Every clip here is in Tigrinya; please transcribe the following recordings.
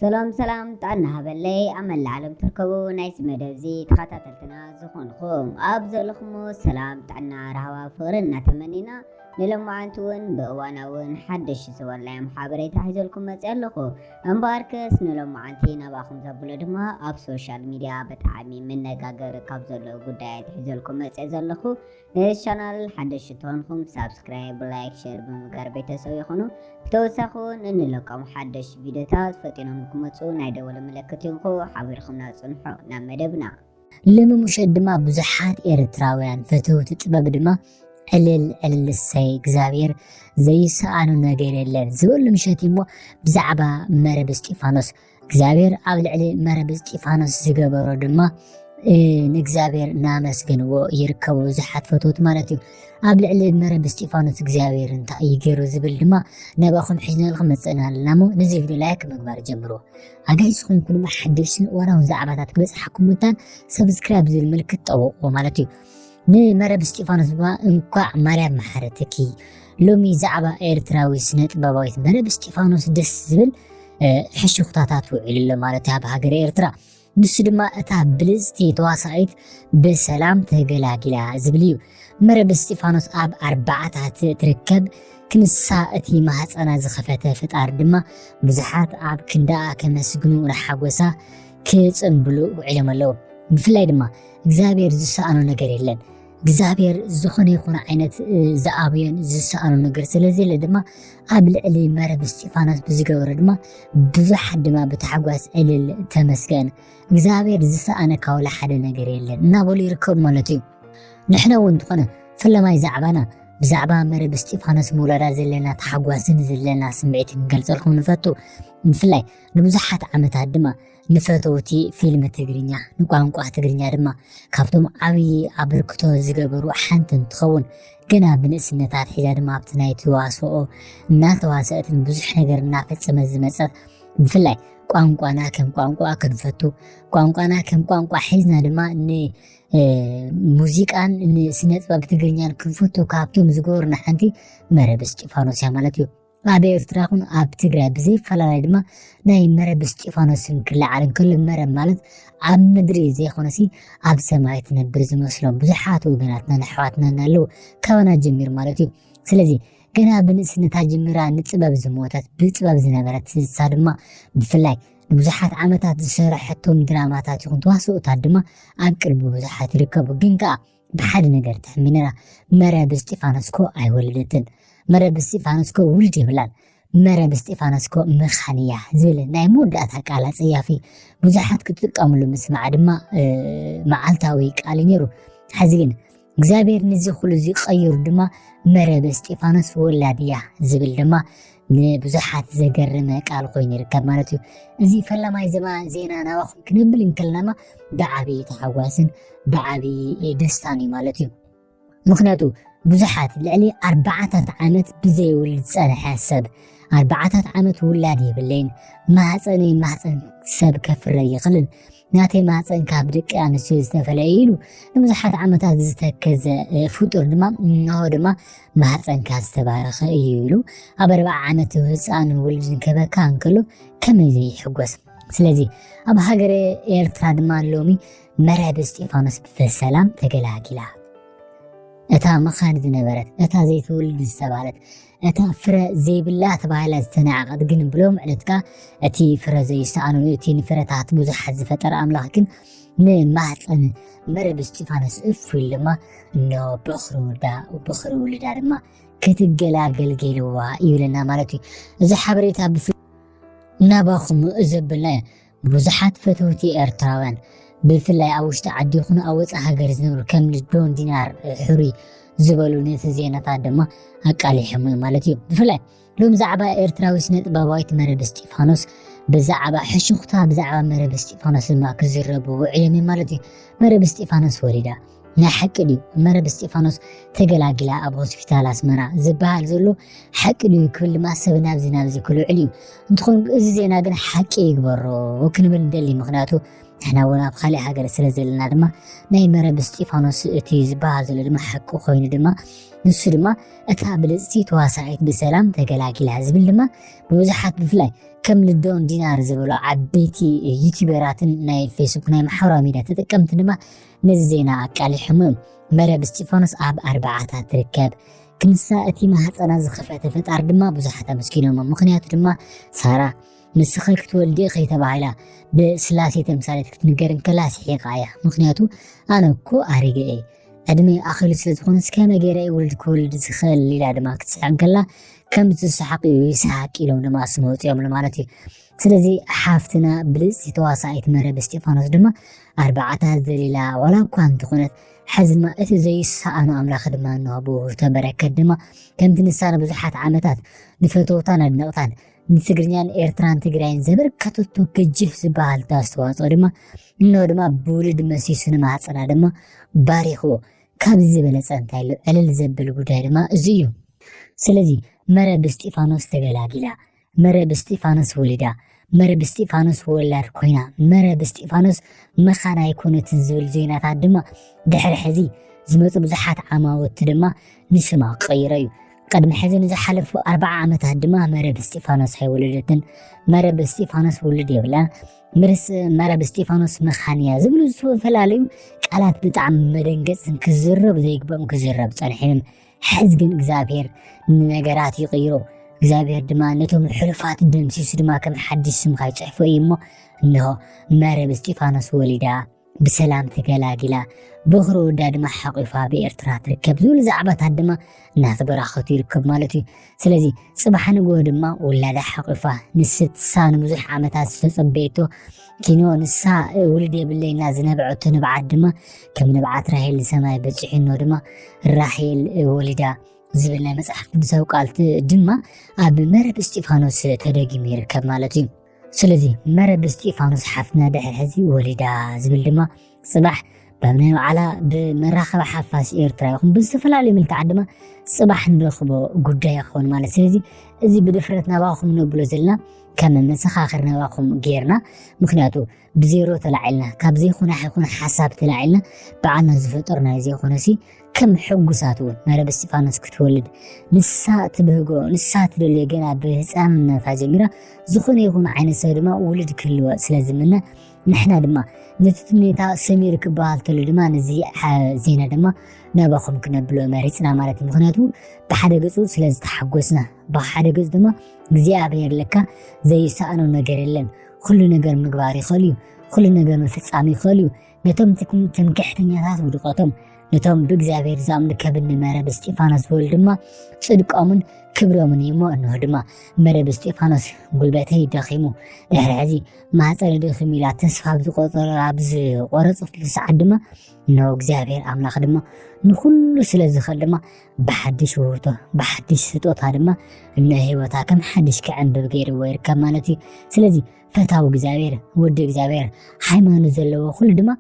ሰላም ሰላም ጥዕና ሃበለይ ኣብ መላእ ዓለም ትርከቡ ናይዚ መደብዚ ተኸታተልትና ዝኾንኹም ኣብ ዘለኹሞ ሰላም ጥዕና ራህዋ ፍቕሪ እናተመኒና ንሎማዓንቲ እውን ብእዋናውን ሓደሽ ዝበልናዮም ሓበሬታ ሒዘልኩም መፅእ ኣለኹ እምበኣርከስ ንሎማዓንቲ ናባኹም ዘብሎ ድማ ኣብ ሶሻል ሚድያ ብጣዕሚ መነጋገሪ ካብ ዘሎ ጉዳያት ሒዘልኩም መፅእ ዘለኹ ነዚ ቻናል ሓደሽቲ ተኾንኩም ሳብስክራይብ ላይክ ሸር ብምግባር ቤተሰብ ይኹኑ ብተወሳኺ እውን እንለቆም ሓደሽቲ ቪድዮታት ፈጢኖም ክመፁ ናይ ደወል ምልክት ይንኩ ሓቢርኩምና ፅንሑ ናብ መደብና ልሚ ሙሸት ድማ ብዙሓት ኤርትራውያን ፈተውቲ ጥበብ ድማ ዕልል ዕልል እሰይ እግዚኣብሔር ዘይሰኣኑ ነገር የለን ዝበሉ ምሸት እሞ ብዛዕባ መረብ እስጢፋኖስ እግዚኣብሔር ኣብ ልዕሊ መረብ እስጢፋኖስ ዝገበሮ ድማ ንእግዚኣብሔር እናመስገንዎ ይርከቡ ብዙሓት ፈትወት ማለት እዩ ኣብ ልዕሊ መረብ እስጢፋኖስ እግዚኣብሔር እንታይ እዩ ገይሩ ዝብል ድማ ነባኹም ሕዝነልኩም መፅእና ኣለና እሞ ነዚ ቪድዮ ላይክ ምግባር ጀምሮ ኣጋይሽ ዝኾንኩም ድማ ሓደሽን እዋናውን ዛዕባታት ክበፅሓኩም ምታን ሰብስክራይብ ዝብል ምልክት ጠውቑዎ ማለት እዩ ንመረብ እስጢፋኖስ ድማ እንኳዕ ማርያም መሓረትኪ ሎሚ ዛዕባ ኤርትራዊ ስነ ጥበባዊት መረብ እስጢፋኖስ ደስ ዝብል ሕሽኩታታት ውዒሉ ኣሎ ማለት ኣብ ሃገር ኤርትራ ንሱ ድማ እታ ብልፅቲ ተዋሳኢት ብሰላም ተገላጊላ ዝብል እዩ መረብ እስጢፋኖስ ኣብ ኣርባዓታት ትርከብ ክንሳ እቲ ማህፀና ዝኸፈተ ፈጣሪ ድማ ብዙሓት ኣብ ክንዳኣ ከመስግኑ ንሓጎሳ ክፅምብሉ ውዒሎም ኣለዉ ብፍላይ ድማ እግዚኣብሔር ዝሰኣኖ ነገር የለን እግዚኣብሔር ዝኾነ ይኹን ዓይነት ዝኣብዮን ዝሰኣኖ ነገር ስለዘለ ድማ ኣብ ልዕሊ መረብ እስጢፋኖስ ብዝገበረ ድማ ብዙሓት ድማ ብታሕጓስ ዕልል ተመስገን እግዚኣብሔር ዝሰኣነ ካውላ ሓደ ነገር የለን እናበሉ ይርከቡ ማለት እዩ ንሕነ እውን እንትኾነ ፍለማይ ዛዕባና ብዛዕባ መረብ እስጢፋኖስ ምውላዳ ዘለና ተሓጓስን ዘለና ስምዒት ክንገልፀልኩም ንፈቱ ብፍላይ ንብዙሓት ዓመታት ድማ ንፈተውቲ ፊልም ትግርኛ ንቋንቋ ትግርኛ ድማ ካብቶም ዓብዪ ኣበርክቶ ዝገበሩ ሓንቲ እንትኸውን ገና ብንእስነት ኣትሒዛ ድማ ኣብቲ ናይ ተዋስኦ እናተዋሰአትን ብዙሕ ነገር እናፈፀመት ዝመፀት ብፍላይ ቋንቋና ከም ቋንቋ ክንፈቱ ቋንቋና ከም ቋንቋ ሒዝና ድማ ንሙዚቃን ንስነ ጥበብ ትግርኛን ክንፈቱ ካብቶም ዝገበሩና ሓንቲ መረብ እስጢፋኖስ እያ ማለት እዩ ኣብ ኤርትራ ይኹን ኣብ ትግራይ ብዘይፈላለይ ድማ ናይ መረብ እስጢፋኖስ ስም ክለዓል እንከሎ መረብ ማለት ኣብ ምድሪ ዘይኮነሲ ኣብ ሰማይ ትነብር ዝመስሎም ብዙሓት ወገናትናን ኣሕዋትናን ኣለዉ ካባና ጀሚሩ ማለት እዩ ስለዚ ገና ብንእስነታ ጀሚራ ንጥበብ ዝሞተት ብጥበብ ዝነበረት ስሳ ድማ ብፍላይ ንብዙሓት ዓመታት ዝሰረሐቶም ድራማታት ይኹን ተዋስኦታት ድማ ኣብ ቅርቢ ብዙሓት ይርከቡ ግን ከዓ ብሓደ ነገር ተሕሚንና መረብ እስጢፋኖስ ኮ ኣይወለደትን መረብ እስጢፋኖስ ኮ ውልድ የብላን መረብ እስጢፋኖስ ኮ መኻን እያ ዝብል ናይ መወዳእታ ቃል ኣፀያፊ ብዙሓት ክትጥቀምሉ ምስማዕ ድማ መዓልታዊ ቃል እዩ ነይሩ ሕዚ ግን እግዚኣብሔር ንዚ ኩሉ እዚ ቀይሩ ድማ መረብ እስጢፋኖስ ወላድ እያ ዝብል ድማ ንብዙሓት ዘገርመ ቃል ኮይኑ ይርከብ ማለት እዩ እዚ ፈላማይ ዘማ ዜና ናባኹም ክንብል እንከለናማ ብዓብዪ ተሓጓስን ብዓብዪ ደስታን እዩ ማለት እዩ ምክንያቱ ብዙሓት ልዕሊ ኣርባዓታት ዓመት ብዘይውልድ ዝፀንሐ ሰብ ኣርባዓታት ዓመት ውላድ የብለይን ማህፀነይ ማህፀን ሰብ ከፍረ ይኽልን ናተይ ማፀን ካብ ደቂ ኣንስትዮ ዝተፈለየ ኢሉ ንብዙሓት ዓመታት ዝተከዘ ፍጡር ድማ እንሆ ድማ ማህፀንካ ዝተባረኸ እዩ ኢሉ ኣብ ኣርባዓ ዓመት ህፃን ውሉድ ዝንከበካ እንከሎ ከመይ ዘይሕጎስ ስለዚ ኣብ ሃገረ ኤርትራ ድማ ሎሚ መረብ እስጢፋኖስ ብሰላም ተገላጊላ እታ መኻን ዝነበረት እታ ዘይትውልድ ዝተባለት እታ ፍረ ዘይብላ ተባሂላ ዝተናዕቐት ግን ብሎም ዕለትካ እቲ ፍረ ዘይሰኣኑን እቲ ንፍረታት ብዙሓት ዝፈጠረ ኣምላኽ ግን ንማህፀን መረብ እስጢፋኖስ እፍ ኢሉ ድማ እኖ በኽሪ ወዳ በኽሪ ውልዳ ድማ ክትገላገል ገይርዋ ይብለና ማለት እዩ እዚ ሓበሬታ ብፍ ናባኹም ዘብልና እዩ ብዙሓት ፈተውቲ ኤርትራውያን ብፍላይ ኣብ ውሽጢ ዓዲ ይኹኑ ኣብ ወፃኢ ሃገር ዝነብሩ ከም ዶን ዲናር ሕሩይ ዝበሉ ነቲ ዜናታት ድማ ኣቃሊሖም እዩ ማለት እዩ ብፍላይ ሎም ዛዕባ ኤርትራዊ ስነ ጥበባዊት መረብ እስጢፋኖስ ብዛዕባ ሕሹኽታ ብዛዕባ መረብ እስጢፋኖስ ድማ ክዝረቡ ውዕሎም ማለት እዩ መረብ እስጢፋኖስ ወሊዳ ናይ ሓቂ ድዩ መረብ እስጢፋኖስ ተገላጊላ ኣብ ሆስፒታል ኣስመራ ዝበሃል ዘሎ ሓቂ ድዩ ክብል ድማ ሰብ ናብዚ ናብዚ ክልዕል እዩ እንትኾን እዚ ዜና ግን ሓቂ ይግበሮ ክንብል ንደሊ ምክንያቱ ንሕና እውን ኣብ ካሊእ ሃገር ስለ ዘለና ድማ ናይ መረብ እስጢፋኖስ እቲ ዝበሃል ዘሎ ድማ ሓቂ ኮይኑ ድማ ንሱ ድማ እታ ብልፅቲ ተዋሳዒት ብሰላም ተገላጊላ ዝብል ድማ ብብዙሓት ብፍላይ ከም ልዶን ዲናር ዝበሉ ዓበይቲ ዩቲበራትን ናይ ፌስቡክ ናይ ማሕበራዊ ሚድያ ተጠቀምቲ ድማ ነዚ ዜና ኣቃሊሖሞ እዮም መረብ እስጢፋኖስ ኣብ ኣርባዓታት ትርከብ ክንሳ እቲ ማህፀና ዝኸፈተ ፈጣር ድማ ብዙሓት ኣመስኪኖሞ ምክንያቱ ድማ ሳራ ንስኺ ክትወልዲ ኢኺ ተባሂላ ብስላሴ ተምሳሌት ክትንገር እንከላ ስሒቓ እያ ምክንያቱ ኣነ እኮ ኣሪገ እየ ዕድመ ኣኺሉ ስለ ዝኾነ እስከ መገረ ውልድ ክወልድ ዝኽእል ኢላ ድማ ክትስሕቕ እንከላ ከም ዝሰሓቕ እዩ ይስሓቅ ኢሎም ድማ ስመ ውፅኦም ማለት እዩ ስለዚ ሓፍትና ብልጽቲ ተዋሳኢት መረብ እስጢፋኖስ ድማ ኣርባዕታ ዘሊላ ዋላ እኳ እንተኾነት ሕዚ ድማ እቲ ዘይሰኣኖ ኣምላኽ ድማ እንሆ ብውህብቶ በረከት ድማ ከምቲ ንሳ ንብዙሓት ዓመታት ንፈተውታን ኣድነቕታን ንትግርኛን ኤርትራን ትግራይን ዘበርከተቶ ገጅፍ ዝበሃል ኣስተዋፅኦ ድማ እንሆ ድማ ብውልድ መሲሱ ንማህፀና ድማ ባሪኽዎ ካብዚ ዝበለፀ እንታይ ኣሎ ዕልል ዘብል ጉዳይ ድማ እዚ እዩ ስለዚ መረብ እስጢፋኖስ ተገላጊላ መረ ብስጢፋኖስ ወሊዳ መረ ብስጢፋኖስ ወላድ ኮይና መረ ብስጢፋኖስ መኻን ኣይኮነትን ዝብል ዜናታት ድማ ድሕሪ ሕዚ ዝመፁ ብዙሓት ዓማውቲ ድማ ንስማ ቀይሮ እዩ ቅድሚ ሕዚ ንዝሓለፉ ኣርባዓ ዓመታት ድማ መረብ እስጢፋኖስ ኣይወለደትን መረብ እስጢፋኖስ ውልድ የብላን ምርስ መረብ እስጢፋኖስ መኻን እያ ዝብሉ ዝተፈላለዩ ቃላት ብጣዕሚ መደንገፅን ክዝረብ ዘይግበኦም ክዝረብ ፀንሒን ሕዚ ግን እግዚኣብሔር ንነገራት ይቕይሮ እግዚኣብሔር ድማ ነቶም ሕሉፋት ደምሲሱ ድማ ከም ሓድሽ ስምካ ይፅሕፎ እዩ እሞ እንሆ መረብ እስጢፋኖስ ወሊዳ ብሰላም ተገላጊላ በኽሪ ወዳ ድማ ሓቂፋ ብኤርትራ ትርከብ ዝብሉ ዛዕባታት ድማ እናተበራኸቱ ይርከብ ማለት እዩ ስለዚ ጽባሕ ንግሆ ድማ ውላዳ ሓቝፋ ንስሳ ንብዙሕ ዓመታት ዝተጸበየቶ ኪኖ ንሳ ውልድ የብለይ እና ዝነበዐቶ ንብዓት ድማ ከም ንብዓት ራሄል ንሰማይ በጺሑኖ ድማ ራሄል ወሊዳ ዝብል ናይ መጽሓፍ ቅዱሳዊ ቃልቲ ድማ ኣብ መረብ እስጢፋኖስ ተደጊሙ ይርከብ ማለት እዩ ስለዚ መረብ እስጢፋኖስ ሓፍትና ድሕር ሕዚ ወሊዳ ዝብል ድማ ጽባሕ በብ ናይ ባዕላ ብመራኸቢ ሓፋስ ኤርትራ ይኹን ብዝተፈላለዩ ምልክዓት ድማ ጽባሕ ንረኽቦ ጉዳይ ይኸውን ማለት ስለዚ እዚ ብድፍረት ናባኹም ነብሎ ዘለና ከም መሰኻኽር ናባኹም ጌርና ምክንያቱ ብዜሮ ተላዒልና ካብ ዘይኮነ ይኹን ሓሳብ ተላዒልና ብዓና ዝፈጠሩ ናይ ዘይኮነሲ ከም ሕጉሳት እውን መረብ እስጢፋኖስ ክትወልድ ንሳ ትብህጎ ንሳ ትደልዮ ገና ብህፃንነታ ጀሚራ ዝኾነ ይኹን ዓይነት ሰብ ድማ ውልድ ክህልወ ስለ ዝምነ ንሕና ድማ ነቲ ትምኔታ ሰሚሩ ክበሃል ተሎ ድማ ነዚ ዜና ድማ ናባኹም ክነብሎ መሪፅና ማለት እዩ ምክንያቱ ብሓደ ገፁ ስለ ዝተሓጎስና ብሓደ ገፁ ድማ እግዚኣብሔር ለካ ዘይሰኣኖ ነገር የለን ኹሉ ነገር ምግባር ይኸእል እዩ ኹሉ ነገር ምፍጻም ይኸእል እዩ ነቶም ትምክሕተኛታት ውድቀቶም ነቶም ብእግዚኣብሔር ዛምልከብኒ መረብ እስጢፋኖስ ዝብል ድማ ጽድቆምን ክብሮምን እዩ እሞ እንሆ ድማ መረብ እስጢፋኖስ ጉልበተይ ደኺሙ ድሕሪ ሕዚ ማህፀነ ደኺሙ ኢላ ተስፋ ብዝቆፀረ ኣብ ዝቆረፀትሉ ሰዓት ድማ እንሆ እግዚኣብሔር ኣምላኽ ድማ ንኹሉ ስለ ዝኽእል ድማ ብሓድሽ ውህብቶ ብሓድሽ ስጦታ ድማ ንህይወታ ከም ሓድሽ ክዕንብብ ገይርዎ ይርከብ ማለት እዩ ስለዚ ፈታዊ እግዚኣብሔር ወዲ እግዚኣብሔር ሃይማኖት ዘለዎ ኩሉ ድማ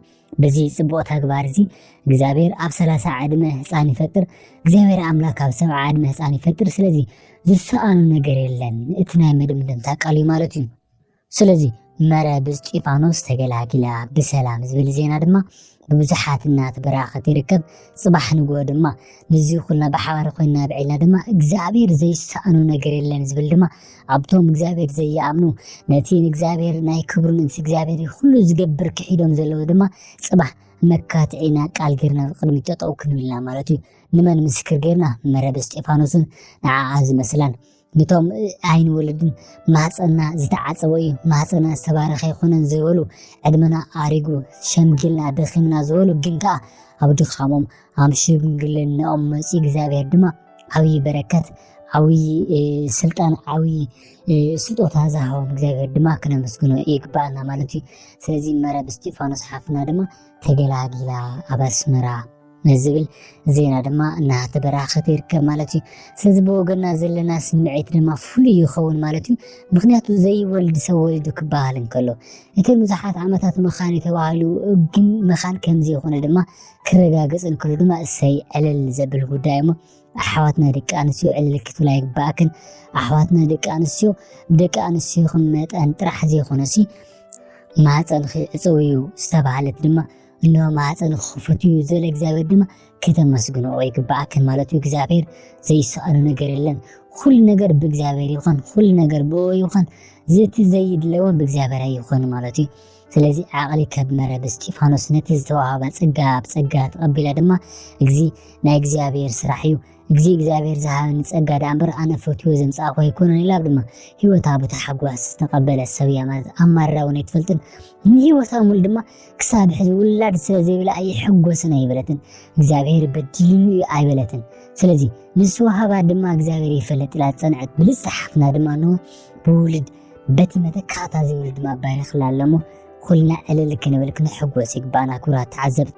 በዚ ፅቡቅ ተግባር እዚ እግዚኣብሔር ኣብ ሰላሳ ዕድመ ህፃን ይፈጥር እግዚኣብሔር ኣምላክ ኣብ ሰብዓ ዕድመ ህፃን ይፈጥር ስለዚ ዝሰኣኑ ነገር የለን እቲ ናይ መደምደምታ ቃል እዩ ማለት እዩ ስለዚ መረ ብእስጢፋኖስ ተገላጊላ ብሰላም ዝብል ዜና ድማ ብብዙሓት እናተበራኸት ይርከብ ፅባሕ ንግሆ ድማ ንዚ ኩልና ብሓባር ኮይና ብዒልና ድማ እግዚኣብሔር ዘይሰኣኑ ነገር የለን ዝብል ድማ ኣብቶም እግዚኣብሔር ዘይኣምኑ ነቲ ንእግዚኣብሔር ናይ ክብሩ ንእንስ እግዚኣብሔር ኩሉ ዝገብር ክሒዶም ዘለዉ ድማ ፅባሕ መካትዒና ቃል ጌርና ቅድሚ ጠጠው ክንብልና ማለት እዩ ንመን ምስክር ጌርና መረብ እስጢፋኖስን ንዓዓ ዝመስላን ንቶም ኣይንወልድን ማህፀና ዝተዓፀወ እዩ ማህፀና ዝተባረኸ ይኹነን ዝበሉ ዕድመና ኣሪጉ ሸምጊልና ደኺምና ዝበሉ ግን ከዓ ኣብ ድኻሞም ኣብ ሽምግልናኦም መፂ እግዚኣብሔር ድማ ዓብዪ በረከት ዓብዪ ስልጣን ዓብዪ ስጦታ ዝሃቦም እግዚኣብሔር ድማ ክነመስግኖ ይግባኣና ማለት እዩ ስለዚ መረብ እስጢፋኖስ ሓፍና ድማ ተገላጊላ ኣብ ኣስመራ ምስ ዝብል ዜና ድማ እናተበራኸተ ይርከብ ማለት እዩ። ስለዚ ብወገና ዘለና ስምዒት ድማ ፍሉይ ይኸውን ማለት እዩ። ምክንያቱ ዘይወልድ ሰብ ወሊዱ ክበሃል እንከሎ እቲ ብዙሓት ዓመታት መኻን ተባሂሉ ግን መኻን ከምዚ ይኾነ ድማ ክረጋገፅ እንከሎ ድማ እሰይ ዕልል ዘብል ጉዳይ እሞ ኣሕዋትና ደቂ ኣንስትዮ ዕልል ክትብላ ይግባእክን። ኣሕዋትና ደቂ ኣንስትዮ ብደቂ ኣንስትዮኹም መጠን ጥራሕ ዘይኮነሲ ማህፀንኺ ዕፅው እዩ ዝተባሃለት ድማ እነሆ ማዕፀን ክኽፈት እዩ ዘለ እግዚኣብሔር ድማ ከተመስግንኦ ይግባኣክን ማለት እዩ እግዚኣብሔር ዘይሰኣኖ ነገር የለን ኩሉ ነገር ብእግዚኣብሔር ይኹን ኩሉ ነገር ብኦ ይኹን ዘቲ ዘይድለዎን ብእግዚኣብሔር ኣይኹን ማለት እዩ ስለዚ ዓቕሊ ከብመረ ብስጢፋኖስ ነቲ ዝተዋሃባ ፀጋ ብፀጋ ተቐቢላ ድማ እዚ ናይ እግዚኣብሔር ስራሕ እዩ ግዜ እግዚኣብሔር ዝሃበኒ ጸጋ ደኣ እምበር ኣነ ፈትዎ ዘምጻእኹ ኣይኮነን ኢላ ድማ ህይወታ ብታሕጓስ ዝተቐበለት ሰብ እያ ማለት ኣማርራ እውን ኣይትፈልጥን ንህይወታ ሙሉ ድማ ክሳብ ሕዚ ውላድ ስለ ዘይብላ ኣይሕጎስን ኣይበለትን እግዚኣብሔር በዲልኒ እዩ ኣይበለትን ስለዚ ንዝተዋሃባ ድማ እግዚኣብሔር ይፈለጥ ኢላ ዝጸንዐት ብልጽቲ ሓፍትና ድማ እንሆ ብውልድ በቲ መተካእታ ዘይውልድ ድማ ባሪኽላ ኣለሞ ኩልና ዕልል ክንብል ክንሕጎስ ይግባኣና ክብራት ተዓዘብቲ